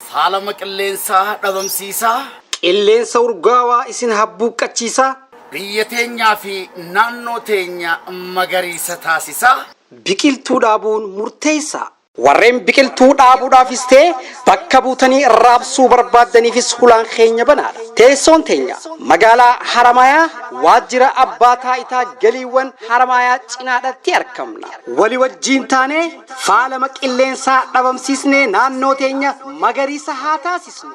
Faalama qilleensaa dhabamsiisaa. Qilleensa urgaawaa isin habbuuqqachiisaa. Biyya teenyaa fi naannoo teenya magariisa taasisaa. Biqiltuu dhaabuun murteessaa. Warreen biqiltuu dhaabuudhaafis ta'e bakka buutanii raabsuu barbaaddaniifis hulaan keenya banaadha. Teessoon teenya Magaalaa Haramaayaa Waajjira Abbaa Taa'itaa Galiiwwan Haramaayaa cinaadhatti argamna. Wali wajjiin taanee. Faalama qilleensaa dhabamsiisnee naannoo teenya magariisa haa taasisnu!